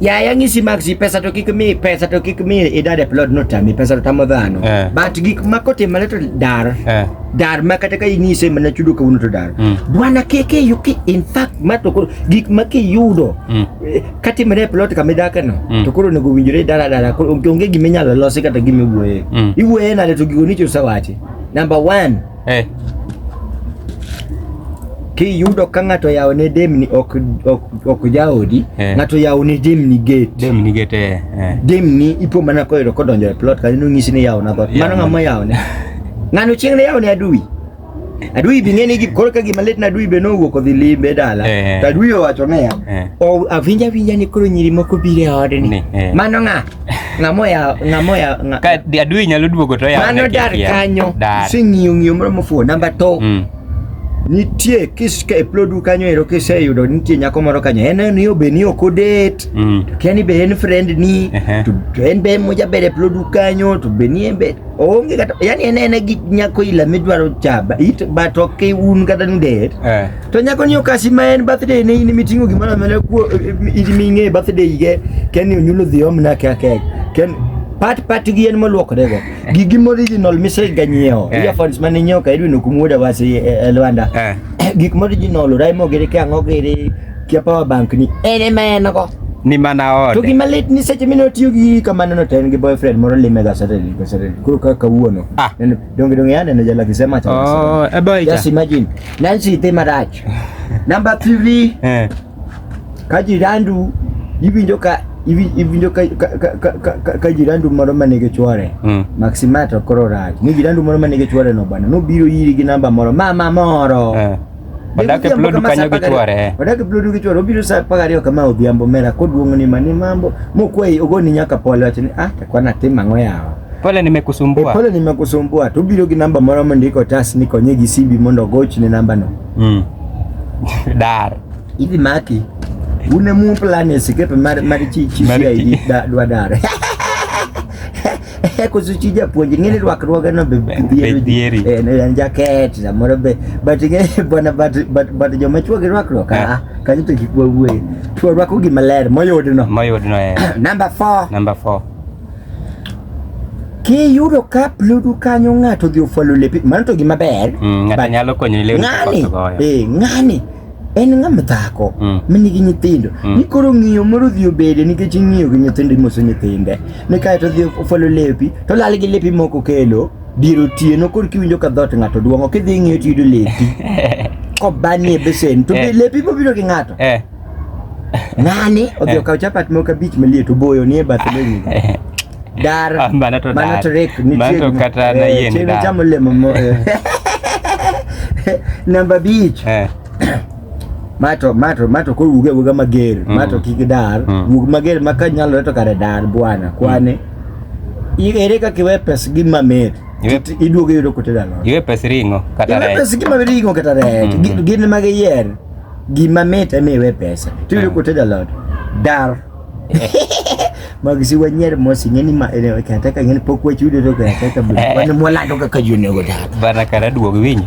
yaya ng'isi mag si pesa to kik mi pesa to kik mi idad e plot no tami pesa to tamo dhano Eh. but gik ma kotimore to dar Eh. dar ma kata ka ing'ise mana chudo kawuono to dar Mm. bwana keke yuki in fact ma to koro gik ma kiyudo Mm. eh, katimore e plot kama idake no Mm. to koro onego owinjore dara dara koro onge gima inyalo losi kata gima iwuoye Mm. iwuoye nade to gigo nicho usewache number one Hey. Eh. Kiyudo ka ng'ato yawo ne demni ok ok ok jaodi, hey. Eh. ng'ato yawo ne demni gate. Demni gate eh. eh. Demni ipo mana ko yero kodonjo e plot ka inu ng'isi ni yawo na dhoot. Mano ng'ama yawo ne. Ng'ano chieng' ne yawo ne adui. Adui bi ng'eni gi koro ka gima lit na adui be no wuok odhi limbe dala. Eh. To adui owacho ne ya. Eh. O avinja vinja ni koro nyiri moko bire ode ni. Eh. Mano ng'a? ng'amo ya ng'amo ya ng'a- ka di- adui nyalo duogo to yawone mano dar kikia. kanyo Dar. sing'iyo ng'iyo moro mofuo namba to Mm. nitie kis ka e plodu kanyo ero kiseyudo nitie nyako moro kanyo en en yo be ni ok odet Mm. to kia ni be en friend ni Ehe. to to en be mojaber e plodu kanyo to be ni en be oonge kata yani en en gi nyako ila midwaro chaba it but ok un kata nudet Eh. To nyako ni okasi ma en birthday ne in mitingo gima na mele kuo idimi nge birthday ge ken ni onyulo dhi om na ka kek. Ken pat pat gi en molwokre go. Gi gimo original mise ganyiewo. Eh. Earphones mane nyiewo ka idwino kumuoda wasi e Luanda. Eh. Gik mo original raimo gere ke ango gere kia power bank ni. Ene ma en go. Ni mana ode. To gima lit ni seche mino tiyo gi kamano no ten gi boyfriend moro lime ga Saturday ko Saturday. Kuro ka kawuono. Ah. Donge donge yana na jala kisema cha. Oh, eboy. Just imagine. nansi itema dacho namba three eh. kajirandu iwinjo ka iwinjo ka jirandu moro ma nigi chwore mm. maximato koro rach ni jirandu moro ma nigi chwore no bwana nobiro iri gi namba moro mama moro eh. Wadake plodu kanyo gi chwore. Eh. Wadake plodu gi chwore. Obiro sa paga ariyo kama odhiambo mera koduong'oni mani mambo. Mokwei ogoni nyaka pole wachni ah takwana tim ang'o yawa. Pole nimekusumbua. E, pole nimekusumbua. Tu biro gi namba moro mondo iko tas ni konye gi sibi mondo ogoch ne namba no. Mm. Dar. Idhi maki. Une mu plan e sikepe mar mar chi chi si da dwa dar. Koso chi japuonj ng'eni rwakruoge no be dhieri. Eh, ne en jaket samoro be but ng'e bwana but but but joma chwo gi rwakruok eh. ah kanyo to kik wawuoye. Chwo rwako gima ler moyudno. Moyudno eh. Number 4. Number 4. Kiyudo ka pludu kanyo ng'ato odhi ofwalo lepi, mano to gima ber. Mm, ng'ato nyalo konyo leo ng'ani. Eh, ng'ani en ng'am dhako mm. ma nigi nyithindo mm. ni koro ng'iyo moro dhi obede nikech ing'iyo gi nyithindo imoso nyithinde ni kae to dhi ofwalo lepi to lal gi lepi moko kelo dier otieno koro kiwinjo ka dhot ng'ato duong'o kidhi ing'iyo to yudo lepi kobanie besen to eh. lepi bobiro gi ng'ato eh. Ng'ani odhi eh. okaw chapat moko abich maliet oboyo ni e bath lewni. Eh. Dar. Ah, mano to dar. Mano to rek nitie. Mano to kata na eh, yien dar. Chieng' chamo lemo mo. Namba abich. Mato mato mato ko wuge wuga mager. Mm. Mato kik dar. Mm. Wug mager ma ka nyalo to kare dar bwana kwane. Mm. Ere kaka iwe pes gi mamit. Iduogo yudo kote dalo. Iwe pes ring'o kata rech. Iwe pes gi mamit ring'o kata rech. Gin mage yer. gima mit ema iwe pesa to iyudo kotedo alot dar mag si wanyer mos ing'e ni ma eh, kataka ng'e ni pok wachudo to kataka bro wan mwalando kaka jonego dar Bana kara duog winyi.